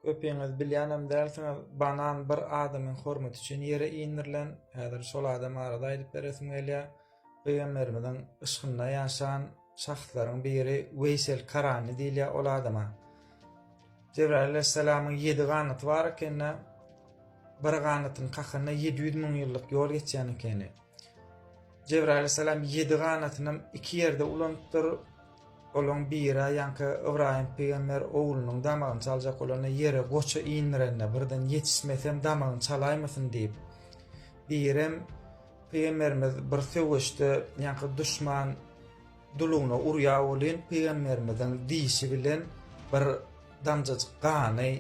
Köpiňiz bilýänem dälsiňiz, banan bir adamyň hormaty üçin ýere indirilen. Häzir şol adam barada aýdyp beresim gelýär. Pygamberimiziň yşkynda ýaşan şahslaryň biri Weýsel Karany diýilýär ol adama. Jebraýyl aleyhisselamyň ýedi ganaty bar ekeni. Bir ganatyň kakanda 700 müň ýyllyk ýol geçýän ekeni. Jebraýyl alaýhyssalam ýedi ganatynam iki ýerde ulanypdyr. Olaryň biri ýaňky Ybraýym pygamber oglunyň damagyny çaljak bolanda ýere goça indirende birden ýetişmesem damagyny çalaýmasyn diýip. Birem pygamberimiz bir söweşde ýaňky duşman dulugyna urýa welin pygamberimiziň dişi bilen bir damjajyk gany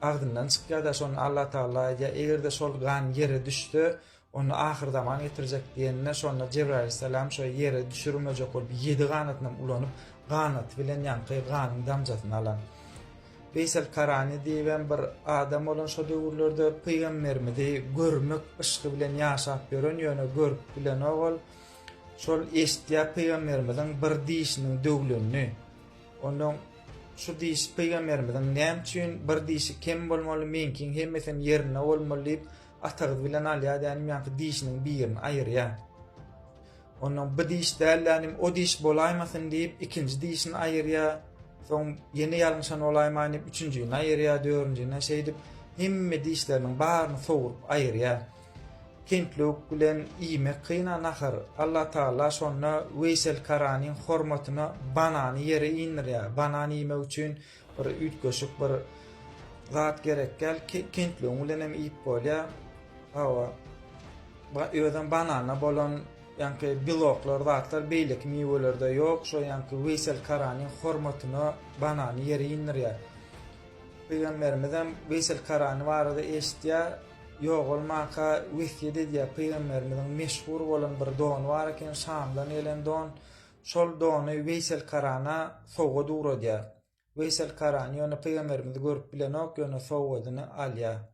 agzyndan çykýar-da şonda Allah Taala aýdýar eger-de şol gan ýere düşse Onda ahyrzaman getirjek diýenine şonda Jebraýyl salam şo ýere düşürmejek bolup ýedi ganatynam ulanyp ganaty bilen ýaňky ganyň damjasyny alan Weýsel Karany diýibem bir adam bolan şo döwürlerde pygamberimizi görmek yşky bilen ýaşap ýören ýöne görüp bilenok ol şol eşitýär pygamberimiziň bir dişiniň döwlenini ondan şu diş pygamberimiziň näme üçin bir dişi kem bolmaly meňkiň hemmesem ýerinde bolmaly diýip Atagyz bilen alýar dänim ýaňky dişiniň birini aýyrýar. Ondan bu diş däl dänim o diş bolaýmasyn diýip ikinji dişini aýyrýar. Soň ýene ýalňyşan bolaýmaýyn diýip üçünjini aýyrýar, dördünjini şeýdip hemme dişleriniň baryny sowrup aýyrýar. Kentluk bilen iýmek kyna nahar. Allah Taala şonda Weýsel Karanyň hormatyna banany ýere indirýär. Banan iýmek üçin Bir üýtgeşik bir zat gerekgäl kentligiň bilen hem iýip bolýar. Hawa. Ba özem banana bolan ýanky biloklar zatlar beýleki miwelerde ýok. Şo ýanky Weýsel Karanyň hormatyna banany ýere indirýär. Pygamberimiz hem Weýsel Karany barada eşitýär. Ýogalmaka wesýet edýär. Pygamberimiziň meşhur bolan bir dony bar eken, Şamdan gelen don. Şol dony Weýsel Karana sowgat ugradýar. Weýsel Karan ýöne pygamberimizi görüp bilenok, ýöne sowgadyny alýar.